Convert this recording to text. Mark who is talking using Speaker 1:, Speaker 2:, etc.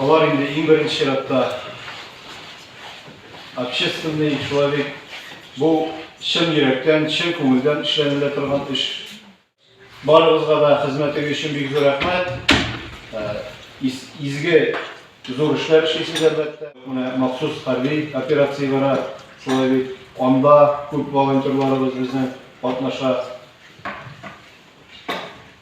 Speaker 1: Алар инде иң беренче чиратта общественный человек. Бу чын йөрәктән, чын күңелдән эшләнелә торган эш. Барыгызга да хезмәтегез өчен бик зур рәхмәт. Изге, зур эшләр эшлисез, әлбәттә. Менә махсус хәрби операция бара, шулай бит. Анда күп волонтерларыбыз безнең катнаша.